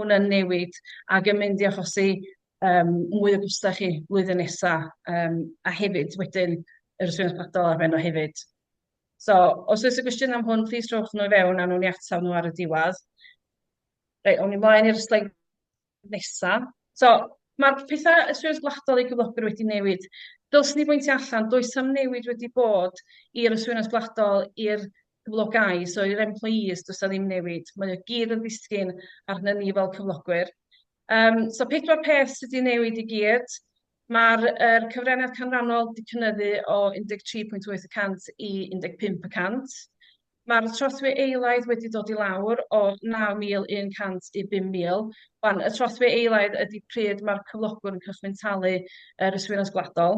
hwnna'n newid ac yn mynd i achosi um, mwy o gwstau chi flwyddyn nesaf um, a hefyd wedyn yr ysgrifennu ysbrydol ar ben o hefyd. So, os oes y gwestiwn am hwn, plis rhowch nhw i fewn a nhw'n i ataf nhw ar y diwedd. Reit, o'n i mlaen i'r sleid nesa. So, mae'r pethau y Swyddog Gwladol ei gyflogwr wedi newid. Dylswn i bwyntio allan, does am newid wedi bod i'r Swyddog Gwladol i'r cyflogau, so i'r employees does a ddim newid. Mae o gyd yn ddisgyn arnyn ni fel cyflogwyr. Um, so pedwar peth sydd wedi newid i gyd. Mae'r er, cyfraniad canrannol wedi cynyddu o 13.8% i 15%. Mae'r trothwy eilaidd wedi dod i lawr o 9,100 i 5,000. Wan, y trothwy eilaidd ydy pryd mae'r cyflogwr yn cychwyn talu yr uh, yswiriant gwladol.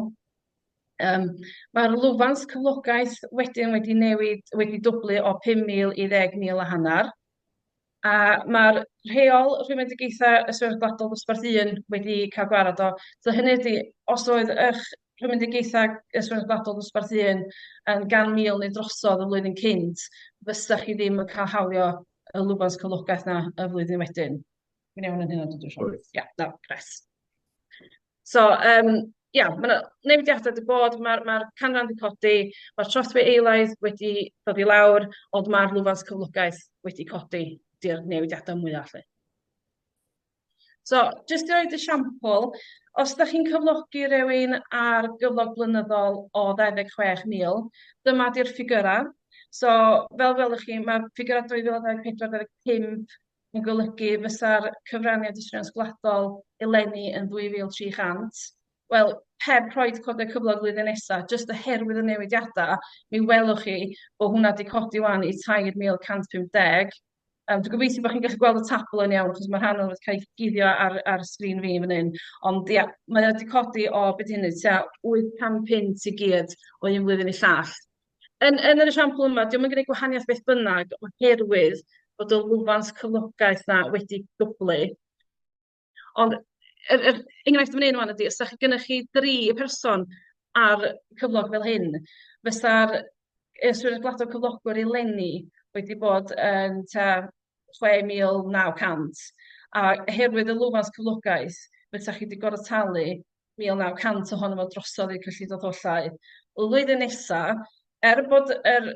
Um, Mae'r lwfans cyflogaeth wedyn wedi newid, wedi dwblu o 5,000 i 10,000 a hanner. A mae'r rheol rhwymedigaethau y Swyddog Gwladol Dosbarth Un wedi cael gwared o. So hynny ydi, os oedd eich rhwymedigaethau y Swyddog Gwladol Dosbarth Un yn gan mil neu drosodd y flwyddyn cynt, fysa chi ddim yn cael hawlio y lwfans cyflogaeth yna y flwyddyn wedyn. Dwi'n iawn yn hynna, dwi'n siŵr? Wyt. Ia, na, gret. So yym ia, ma' 'na newidiadau 'di bod, ma'r ma'r canran 'di codi, ma'r trothwy eilaidd wedi dod i lawr, ond ma'r lwfans cyflogaeth wedi codi, 'di'r newidiadau mwya 'lly. So jyst i roid esiampl, os dach chi'n cyflogi rywun ar gyflog blynyddol o 26,000, dyma 'di'r ffigyrau. So fel welwch chi, ma'r ffigyrau 2024, 25 yn golygu fysa'r cyfraniad iswriant gwladol eleni yn 2,300. Wel, heb rhoid codau cyflog flwyddyn nesa, jyst oherwydd y newidiadau, mi welwch chi bod hwnna wedi codi wan i 3,150. Um, dwi'n gobeithio bod chi'n gallu gweld y tabl yn iawn, achos mae rhan o'n wedi cael ei guddio ar, ar sgrin fi fan hyn. Ond ia, mae wedi codi o beth hynny, tua 800 punt i gyd o un flwyddyn i llall. Yn, yn yr esiampl yma, diolch yn gwneud gwahaniaeth beth bynnag oherwydd bod y lwfans cyflogaeth na wedi dwblu. Ond yr, yr enghraifft yn fan hyn ydy, os da chi gennych chi dri person ar cyflog fel hyn, fysa'r y swyddog gwladol cyflogwr eleni wedi bod yn ta 6,900 a oherwydd y lwfans cyflogaeth fysa chi wedi gorfod talu 1,900 ohono fo drosodd i'r cyllid oddollau. Y flwyddyn nesa, er bod yr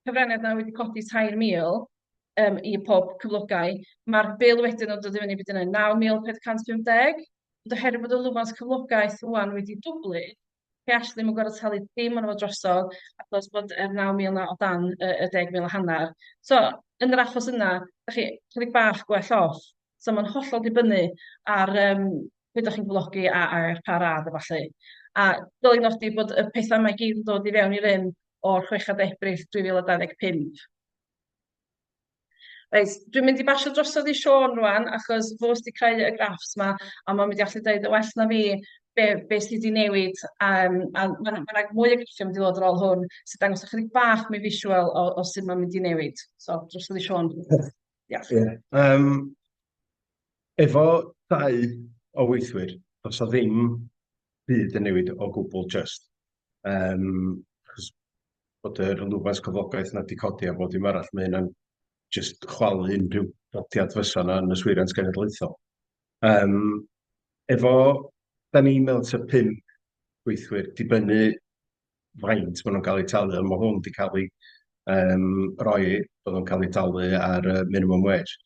cyfraniad yna wedi codi 3,000 um, i pob cyflogau, mae'r bil wedyn yn dod i fyny byd yna 9,450, ond oherwydd bod y lwfans cyflogaeth wwan wedi dwblu, chi all ddim yn gorfod talu dim ond fo drosodd, achos bod yr 9,000 yna o dan y, y 10,000 a hanner. So, yn yr achos yna, da chi chydig bach gwell off. So mae'n hollol dibynnu ar um, beth ydych chi'n blogi a, a ar pa radd a falle. A dyl i'n nodi bod y pethau mae gyd yn dod i fewn i rym o'r 6 Ebrill 2025. Reit, dwi'n mynd i basio drosodd i Sean rwan, achos fo sydd wedi creu y graffs yma, a mae'n mynd i allu dweud y well na fi be, be sydd wedi newid, um, a mae yna ma mwy o graffiau mynd i ddod ar ôl hwn, sy'n dangos ychydig bach mwy visual o, o sydd mae'n mynd i newid. So, drosodd i Sean. Diolch. Ie, yym, efo dau o weithwyr, does 'na ddim byd yn newid o gwbl jyst, yym, achos bod yr lwfans cyflogaeth 'na 'di codi a bob dim arall, ma' hynna'n jyst chwalu unrhyw dodiad fysa 'na yn yswiriant genedlaethol. Yym, efo... 'dan ni mewn tua pump gweithwyr, dibynnu faint maen nhw'n cael eu talu, ond mae hwn wedi cael ei um, roi bod nhw'n cael eu talu ar y minimum wage.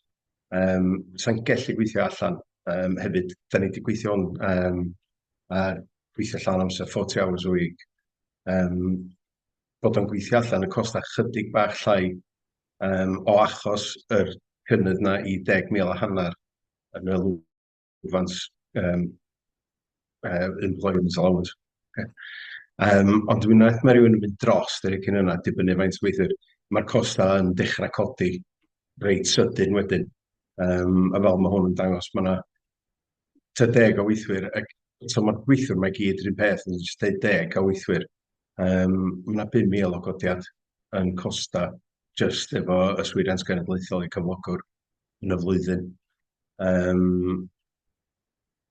Um, Sa'n gallu gweithio allan um, hefyd, da ni wedi gweithio hwn um, a gweithio allan amser 40 hours a week. Um, bod o'n gweithio allan y costau chydig bach llai um, o achos yr cynnydd na i 10,000 a hanner yn y advance um, uh, employment allowance. Okay. Um, ond dwi'n meddwl mae rhywun yn mynd dros yr cyn yna, dibynnu faint o weithwyr, mae'r costau yn dechrau codi reit sydyn wedyn. Um, a fel mae hwn yn dangos, mae yna ta deg o weithwyr, ac so mae'r gweithwyr mae gyd rhywun peth, yn just dweud deg o weithwyr. Um, mae yna 5,000 o godiad yn costa just efo yswiriant genedlaethol i cyflogwr. yn y flwyddyn. Yym,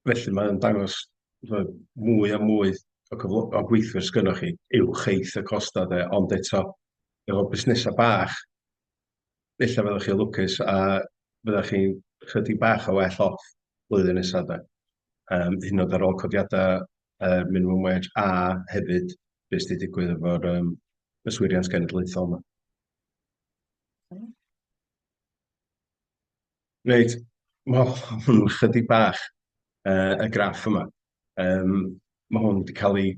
felly mae'n dangos chimod, mwy a mwy o cyflo- o gweithwyr sgynnoch chi uwch eith y costau de, ond eto efo busnesau bach, ella fyddwch chi'n lwcus a fyddwch chi'n chydig bach o well off flwyddyn nesaf de. Yym, hyd yn oed ar ôl codiadau yy minimum wage a hefyd be' sy 'di digwydd efo'r yym yswiriant genedlaethol 'ma. Reit, ma' hwn yn chydig bach yy y graff yma. Yym ma' hwn wedi cael ei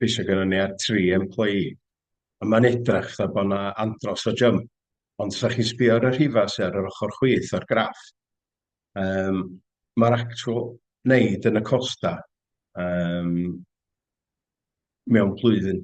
geisio gynnon ni ar tri employee a ma'n edrach fel bo' 'na andros o jymp ond os 'dach chi'n sbio ar y rhifa sy ar yr ochor chwith o'r graff yym ma'r actual neud yn y costa yym mewn blwyddyn.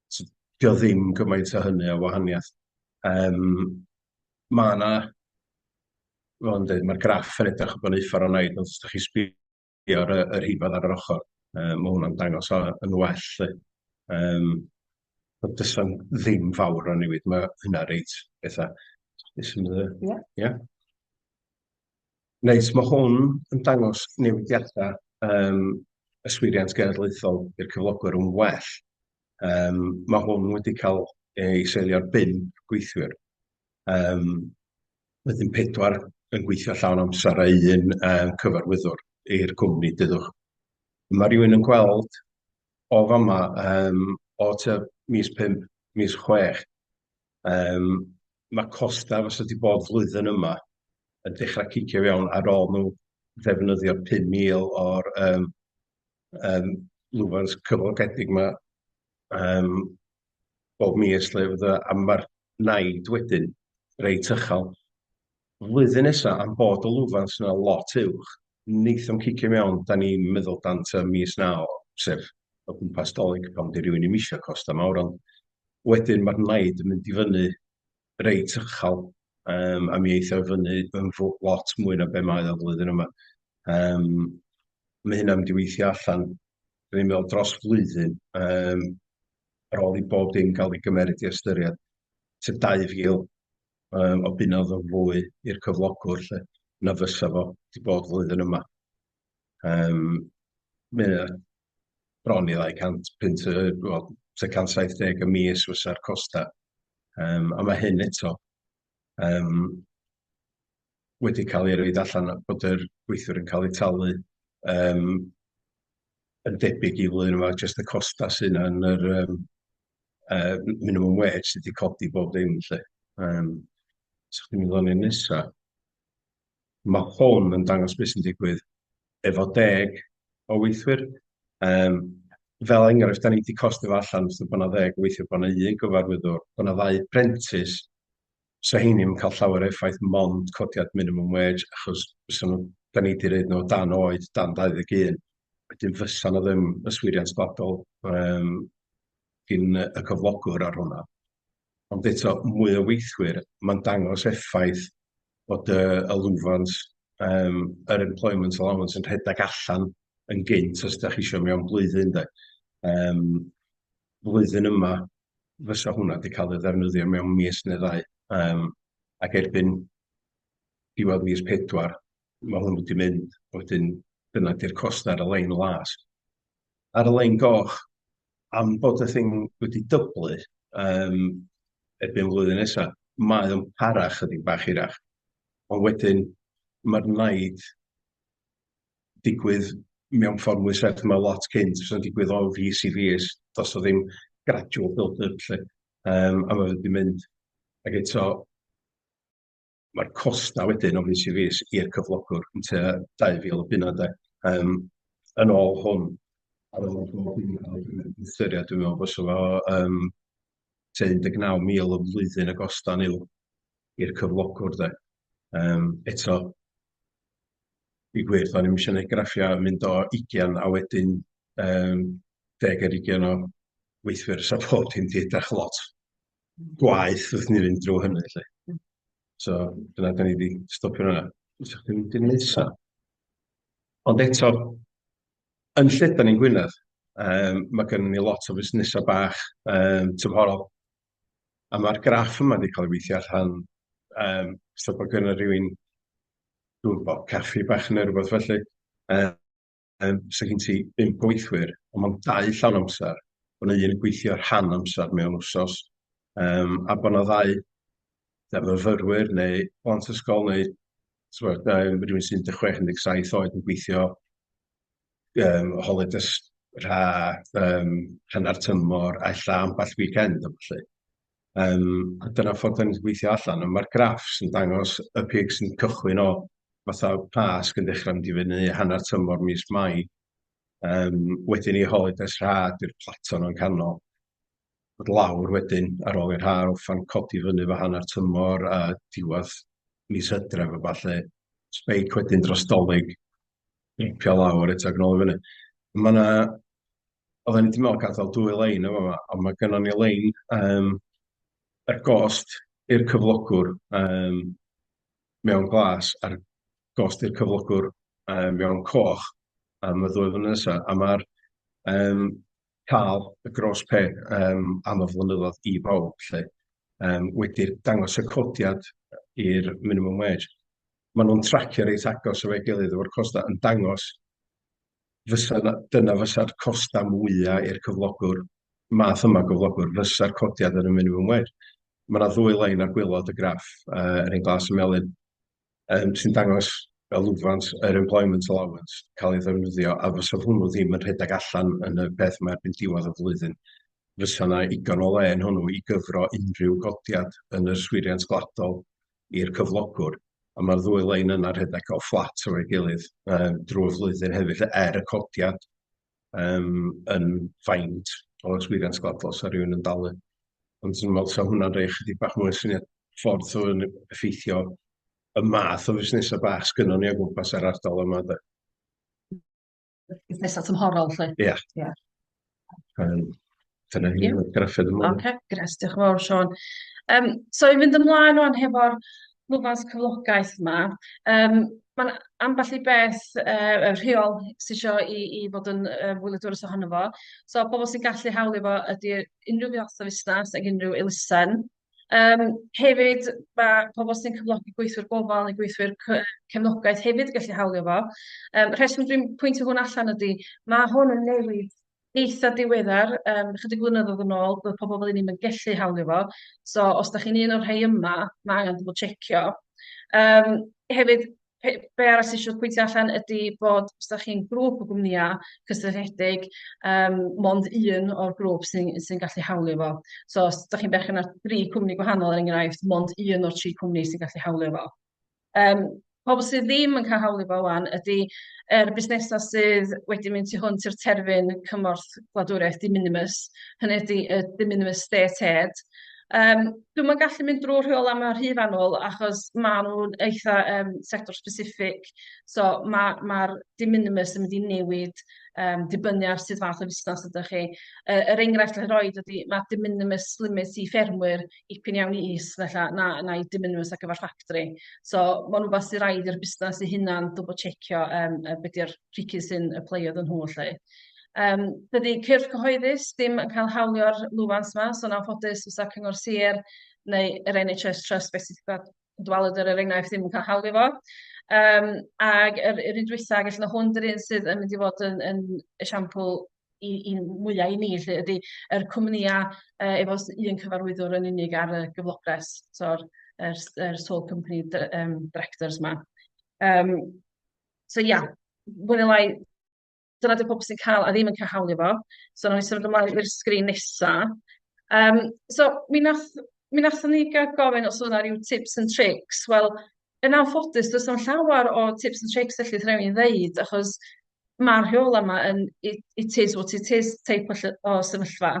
So, dio o ddim gymaint o hynny o wahaniaeth. Yym, mae yna, fel o'n dweud, mae'r graff yn edrych yn eitha' ornaidd, ond os dach chi'n sbïo ar y y rhifedd ar yr ochr, yy ma' hwnna'n dangos o yn well 'lly. Yym, ond does 'na ddim fawr o newid, ma' hynna reit betha', be' sy'n yy... Ia? ...ia? Neis, mae hwn yn dangos newidiadau um, yswiriant genedlaethol i'r cyflogwyr yn well. Um, mae hwn wedi cael ei seilio'r 5 gweithwyr. Um, wedyn pedwar yn gweithio llawn amser a un um, cyfarwyddwr i'r cwmni dyddwch. Mae rhywun yn gweld o fama um, o tua mis 5, mis 6, Yym, ma' costau fysa 'di bod flwyddyn yma yn dechra cicio fewn ar ôl nhw ddefnyddio pum mil o'r yym yym lwfans cyflogedig 'ma yym bob mis 'lly fatha, a ma'r naid wedyn reit uchel. flwyddyn nesa am bod y lwfans yna lot uwch, neith o'm cicio mewn, 'dan ni'n meddwl dan tŷ mis naw, sef o gwmpas Dolig, pan 'di rywun 'im isio costa mawr, ond wedyn ma'r naid yn mynd i fyny reit uchal, yym a mi eith o i fyny yn fw- lot mwy na be' mae o flwyddyn yma, yym ma' hynna'n mynd i weithio allan, 'dan ni'n meddwl dros flwyddyn, yym ar ôl i bob dim ga'l ei gymeryd i ystyried, tua dau fil um, o bunnodd o fwy i'r cyflogwr lle, na fysa fo wedi bod flwyddyn yma. Um, mae bron i ddau 250, wel, 170 y mis fysa'r costau. Um, a mae hyn eto um, wedi cael ei roid allan a bod yr gweithiwr yn cael eu talu yym yn debyg i flwyddyn yma jyst y costau sydd yna yn yr yym yy m- minimum wage sydd wedi codi bob dim lly yym so chdi'n mynd o'n i'n nesa ma' hwn yn dangos beth sy'n digwydd efo deg o weithwyr yym fel enghraifft da ni wedi costio fo allan os yw bod na ddeg o weithwyr bod na un gyfarwyddwr bod na ddau prentis 'sa rheiny ddim yn cael llawer o effaith, mond codiad minimum wage, achos fysa nhw... 'da ni 'di roid nhw o dan oed, dan 21, wedyn fysa 'na ddim yswiriant sbadol yym gin y y cyflogwr ar hwnna, ond eto mwy o weithwyr, ma'n dangos effaith bod y y lwfans yym yr employment allowance yn rhedeg allan yn gynt os dach chi isio mewn blwyddyn de yym. flwyddyn yma fysa hwnna 'di cael ei ddefnyddio mewn mis neu ddau yym ac erbyn diwedd mis pedwar ma' hwnnw 'di mynd wedyn dyna 'di'r cost ar y lein las. Ar y lein goch am bod y thing wedi dyblu yym erbyn flwyddyn nesa mae o'n para chydig bach hirach ond wedyn ma'r naid digwydd mewn ffordd mwy serth, mae lot cynt yn digwydd o fis i fis, does 'na ddim gradual build-up 'lly, yym a ma' fe 'di mynd ag eto ma'r costa' wedyn o fis i fis i'r cyflogwr yn tua dau fil o bunna 'de yym yn ôl hwn ar ôl bob dim ca'l ei ystyried dwi'n me'wl bysa fo yym tua un deg naw mil y flwyddyn y gostau yw i'r cyflogwr de. Yym eto i gwir, do'n i'm isio neud graffiau mynd o ugian a wedyn yym deg ar ugian o weithwyr, so pob dim di edrach lot gwaeth wrth i ni fynd drw hynny lly. So dyna da ni di stopio fan'na. Fysa chdi'n mynd i'r nesa? Ond eto, yn lledan ni'n Gwynedd, yym ma' gynnon ni lot o fusnesa bach yym tymhorol, A ma'r graff yma 'di ca'l ei weithio allan yym so bo' gynno rywun dwi'm yn gwbo caffi bach ne' rwbath felly yy yym so gen ti bump o weithwyr on' ma'n dau llawn amsar bo' 'na un yn gweithio rhan amsar mewn wsos yym a bo' 'na ddau yy fyfyrwyr neu plant ysgol neu t'mod yym rywun sy'n un deg chwech un deg saith oed yn gweithio yym holidays rha yym hanner tymor a ella ambell weekend a ballu. Yym a dyna ffordd dan ni'n gweithio allan, ond ma'r graffs yn dangos y pics yn cychwyn o fatha Pasg yn dechrau mynd i fyny, hanner tymor mis Mai, yym wedyn i holidays rha di'r plateau yna'n canol, dod lawr wedyn ar ôl i'r ha orffen codi fyny efo hanner tymor a diwedd mis Hydref a ballu, spike wedyn dros Dolig. Ripio lawr eto ac yn ôl i fyny. Mae yna... Oedden ni wedi meddwl gadael dwy lein yn fama, ond mae gennym ni lein um, ar gost i'r cyflogwr um, mewn glas a'r gost i'r cyflogwr um, mewn coch am y ddwy flynedd nesaf. A mae'r um, cael y gros pe um, am y flynyddoedd i bawb lle, um, wedi'r dangos y codiad i'r minimum wage. maen nhw'n tracio reit agos efo'i gilydd efo'r costau, yn dangos fysa 'na... dyna fysa'r costau mwya i'r cyflogwr, math yma o gyflogwr, fysa'r codiad yn y minimum wage. Ma' 'na ddwy lein ar gwaelod y graff, yy yr un glas a melyn, yym sy'n dangos y lwfans yr employment allowance yn cael ei ddefnyddio, a fysa hwnnw ddim yn rhedeg allan yn y peth 'ma erbyn diwedd y flwyddyn, fysa 'na igon o le yn hwnnw i gyfro unrhyw godiad yn yr yswiriant gwladol i'r cyflogwr, a ma'r ddwy lein yna rhedeg fel fflat efo'i gilydd yym drwy'r flwyddyn hefyd 'lly, er y codiad yym yn faint o yswiriant sgladol 'sa rywun yn dalu, ond 'swn i'n meddwl 'sa hwnna'n rhoi ychydig bach mwy o syniad ffordd so yn effeithio y math o fusnesa' bach sgynnon ni o gwmpas yr ardal yma de. busnesau tymhorol 'lly. Ia. Ia. Yym dyna ni efo graffeg ymlaen. Ocê, grêt. Diolch yn fawr, Siôn. Yym, so i fynd ymlaen ŵan hefo'r lwfans cyflogaeth 'ma, yym ma'n ambell i beth yy yy rheol sy isio i i fod yn yy wyliadwrus ohono fo. So pobl sy'n gallu hawlio fo ydi unrhyw fath o fusnes ag unrhyw elusen. Yym, hefyd, mae pobl sy'n cyflogi gweithwyr gofal neu gweithwyr cefnogaeth hefyd yn gallu hawlio fo. Um, rheswm dwi'n pwyntio hwn allan ydy, mae hwn yn newid eitha diweddar, um, chydig flynyddoedd yn ôl, bydd pobl fel ni'n gallu hawlio fo. So, os da chi'n un o'r rhai yma, mae angen bod checio. Um, hefyd, pe- be arall sy'n siŵr pwyntio allan ydy bod os da chi'n grŵp o gwmnïau cysylltiedig, um, mond un o'r grŵp sy'n sy gallu hawlio fo. So os da chi'n berchen ar dri cwmni gwahanol er enghraifft, mond un o'r tri cwmni sy'n gallu hawlio fo. Um, pobl sydd ddim yn cael hawlio fo wan ydy er busnesau sydd wedi mynd tu hwnt i'r terfyn cymorth gwladwriaeth di minimus, hynny ydy y di minimus state aid, Yym dwi'm yn gallu mynd drwy'r rheolau 'ma rhy fanwl achos maen nhw'n eitha yym sector specific, so ma' ma'r de minimis yn mynd i newid yym dibynnu ar sut fath o fusnes ydych chi. Yy yr enghraifft allai roed ydy ma' de minimis limit i ffermwyr dipyn iawn yn is falla na na i de minimis ar gyfer ffactri. So ma'n wbath sy raid i'r busnes ei hunan dwbwl tsecio yym yy be' 'di'r pricis sy'n aplio iddyn nhw 'lly. Yym dydy cyrff cyhoeddus ddim yn cael hawlio'r lwfans yma, so yn anffodus fysa Cyngor Sir neu yr NHS Trust beth sydd wedi dwalyd yr er enghraifft ddim yn cael hawlio fo. Um, ac yr, yr un dwytha, felly mae hwn yr un sydd yn mynd i fod yn, yn esiampl i, i mwyaf i ni, lle ydy yr cwmnïau uh, efo un cyfarwyddwr yn unig ar y gyflogres, so'r er, er sole company um, directors yma. Um, so ia, yeah, lai Dyna 'di pobl sy'n cael a ddim yn cael hawlio fo. So wnawn ni symud ymlaen i'r sgrin nesa. Um, so mi nath mi nathon ni gael gofyn os o'na rhyw tips and tricks. Wel, yn anffodus, does na'm llawer o tips and tricks felly rhaid i'n ddeud, achos mae'r rheola yma yn it, it is what it is teip o, o sefyllfa.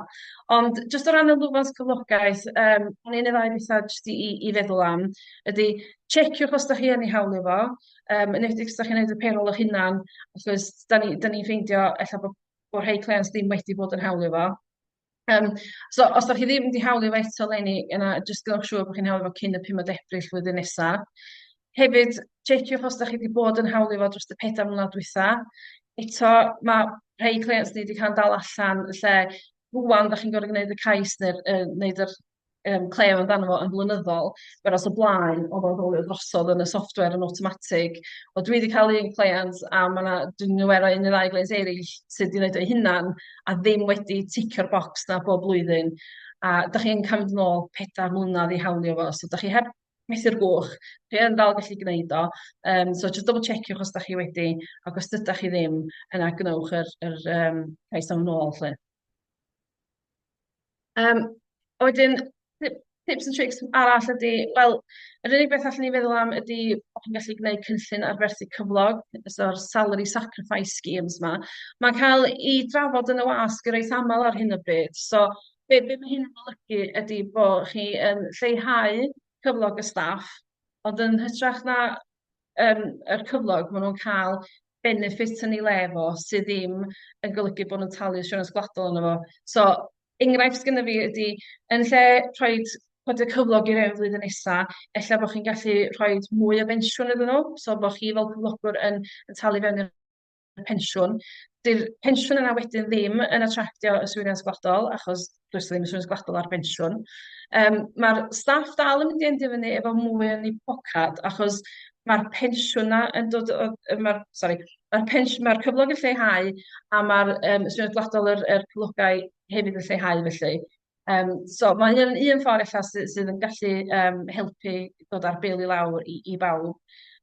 Ond jyst o ran y lwfans cyflogaeth, um, o'n i'n ei ddau bethau jyst i, i, i feddwl am, ydy, checiwch os da chi yn ei hawlio fo, Yym yn enwedig os dach chi'n neud y payroll 'ych hunan achos 'dan ni 'dan ni'n ffeindio ella bo' bo' rhei cleients ddim wedi bod yn hawlio fo. Yym so os 'dach chi ddim 'di hawlio fo eto leni yna jyst gwnewch siŵr bo' chi'n hawlio fo cyn y pumed Ebrill flwyddyn nesa. Hefyd checiwch os 'dach chi 'di bod yn hawlio fo drost y pedair mlynadd dwytha. Eto ma' rhei cleients ni 'di ca'l 'n dal allan lle rŵan 'dach chi'n gor'o' gneud y cais ne'r yy neud yr yym clem amdano fo yn flynyddol, whereas o blaen o'dd o'n rowlio drosodd yn y software yn awtomatig. Wel dwi 'di ca'l un cleiant a ma' 'na dwi'n aware o un ne' ddau gleiant eryll sy 'di neud o 'u hunan a ddim wedi ticio'r bocs 'na bob blwyddyn a 'dach chi'n ca'l mynd yn ôl pedair mlynadd i hawlio fo so 'dach chi heb methu'r gwch chi yn dal gallu gneud o yym so jyst double checiwch os 'dach chi wedi ac os dydach chi ddim yna gwnewch yr yr yym cais am yn ôl 'lly. Um, a wedyn, tips and tricks arall ydy, wel, yr unig beth allan ni feddwl am ydy bod chi'n gallu gwneud cynllun arferthu cyflog, so'r salary sacrifice schemes yma. Mae'n cael ei drafod yn y wasg yr eith aml ar hyn o bryd. So, be, be mae hyn yn olygu ydy bod chi yn lleihau cyflog y staff, ond yn hytrach na um, yr cyflog, maen nhw'n cael benefit yn ei le fo sydd ddim yn golygu bod nhw'n talu siwrans gwladol yna fo. So, enghraifft gyda fi ydy, yn lle rhoi codi cyflog i rhywun flwyddyn nesa, ella bod chi'n gallu rhoi mwy o bensiwn iddyn nhw, so bod chi fel cyflogwr yn, yn talu fewn i'r y pensiwn. Dy'r pensiwn yna wedyn ddim yn attractio yswiriant gwladol, achos does ddim yswiriant gwladol ar bensiwn. Um, Mae'r staff dal yn mynd i endio fyny efo mwy yn ei pocad, achos mae'r pensiwn yna yn dod... Mae'r sorry, mae'r pensiwn, mae'r cyflog yn lleihau a mae'r um, yswiriant gwladol yr, yr cyflogau hefyd yn lleihau felly. Yym, so mae hyn yn un ffordd ella sy- sydd yn gallu yym helpu dod â'r bil i lawr i i bawb.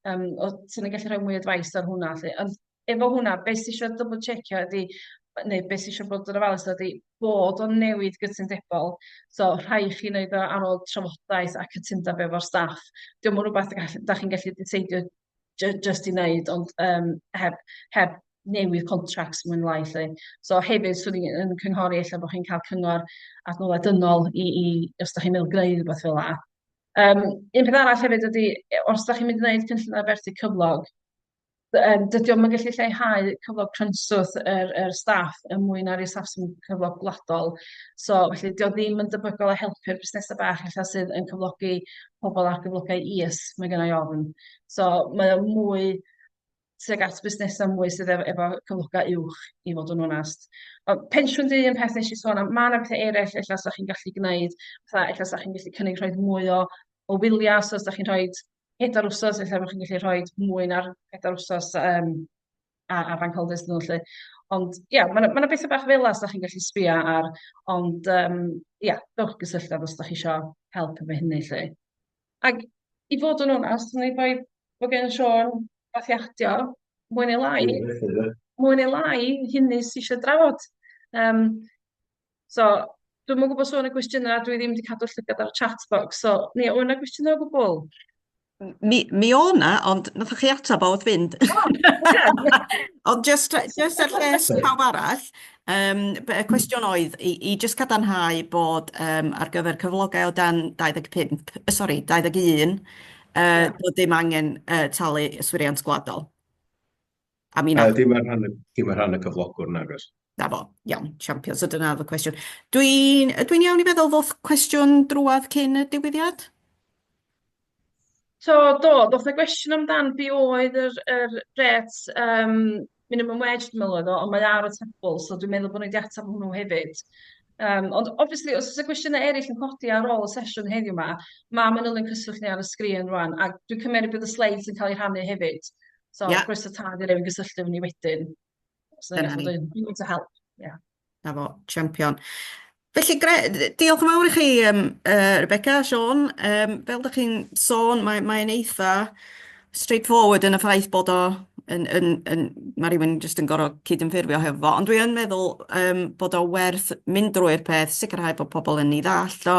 Yym, o't ti'n gallu rhoi mwy o advice ar hwnna 'lly? Ond efo hwnna, be' sy isio dwbwl tsiecio ydi neu be' sy isio bod yn ofalus ydi bod o'n newid gytundebol, so rhai' chi neud o ar ôl trafodaeth a cytundeb efo'r staff. 'Di o'm yn rwbath y gall- 'dach chi'n gallu diseidio j- jyst i wneud, ond yym heb heb newid contracts mwyn lai 'lly. So hefyd 'swn i yn cynghori ella bod chi'n cael cyngor adnoddau dynol i i os dach chi'n meddwl greu rywbeth fel 'na. Yym un peth arall hefyd ydy e- os dach chi'n mynd i wneud cynllun arferthu cyflog d- yym dydy o'm yn gallu lleihau cyflog cynswth yr yr staff er mwyn na'r i'r staff sy'n cyflog gwladol. So felly 'di o ddim yn debygol o helpu'r busnesau bach ella sydd yn cyflogi pobl ar gyflogau is, mae gen i ofn. So mae o mwy tuag at busnesau mwy sydd efo, efo cyflogau uwch, i fod yn onest. Ond pensiwn di yn peth nes i sôn am, mae yna pethau eraill efallai sa'ch chi'n gallu gwneud, fatha efallai sa'ch chi'n gallu cynnig rhoi mwy o, o wyliau, so os da chi'n rhoi pedair wsos, efallai bod chi'n gallu rhoi mwy na'r pedair wsos um, a, a bank holders nhw lly. Ond ia, mae yna ma yna bethau bach fel yna os da chi'n gallu sbio ar, ond um, ia, dewch gysylltu â os da chi eisiau help efo hynny lly. Ac i fod yn onest, neu bai bod gen Sean bathiadio, mwy neu lai, mwy neu lai, hynny sy'n eisiau drafod. Um, So, dwi'm yn gwybod sôn y gwestiynau, dwi ddim wedi cadw llygad ar y chat box, so, ni, o'n yna gwestiynau o gwbl? Mi, mi o na, ond nath chi atab o wrth fynd. ond just, just er lles pawb arall, um, y cwestiwn oedd i, i just cadarnhau bod um, ar gyfer cyflogau o dan 25, uh, sorry, 21, uh, bod dim angen uh, talu yswiriant gwladol. A mi na. Uh, dim ar rhan, dim ar rhan y cyflogwr, nagos. Na fo, iawn, champion. So dyna oedd y cwestiwn. Dwi'n dwi iawn i feddwl fod cwestiwn drwad cyn y diwyddiad? So, do, doth y gwestiwn amdan be oedd yr, yr ret um, minimum wage, dwi'n meddwl oedd o, ond mae ar y tabl, so dwi'n meddwl bod nhw wedi ateb hwnnw hefyd. Um, ond, obviously, os oes y gwestiynau eraill yn codi ar ôl y sesiwn heddiw yma, mae Manylion Cyswllt ni ar y sgrin rwan, a dwi'n cymeryd bydd y sleids yn cael eu rhannu hefyd. So, yeah. croeso tad i rywun gysylltu efo ni wedyn. So, Dyna ni. Dwi'n to help. Yeah. Na fo, champion. Felly, gre, diolch yn fawr i chi, um, uh, Rebecca, Sean. Um, fel ydych chi'n sôn, mae'n mae eitha straightforward yn y ffaith bod o yn, yn, yn, mae rhywun jyst yn gorfod cydymffurfio hefo fo, ond dwi yn meddwl um, bod o werth mynd drwy'r peth, sicrhau bod pobl yn ei ddall o,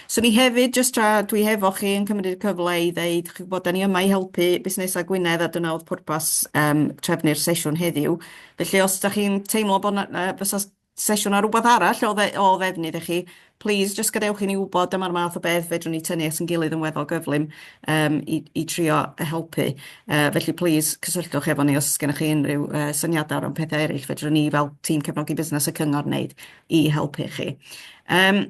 Swn i hefyd, jyst tra dwi hefo chi, yn cymryd y cyfle i ddeud, chi'n gwybod, dan ni yma i helpu busnesau Gwynedd a dyna oedd pwrpas yym trefnu'r sesiwn heddiw. Felly os da chi'n teimlo bod 'na yy fysa sesiwn ar rywbeth arall o dde- o ddefnydd i chi, plis jyst gadewch i ni wybod, dyma'r math o beth fedrwn ni tynnu at ein gilydd yn weddol gyflym yym i i trio helpu. Yy felly plis cysylltwch efo ni os oes gennych chi unrhyw yy syniadau o ran pethau eraill fedrwn ni fel tîm cefnogi busnes y cyngor wneud i helpu chi. Yym.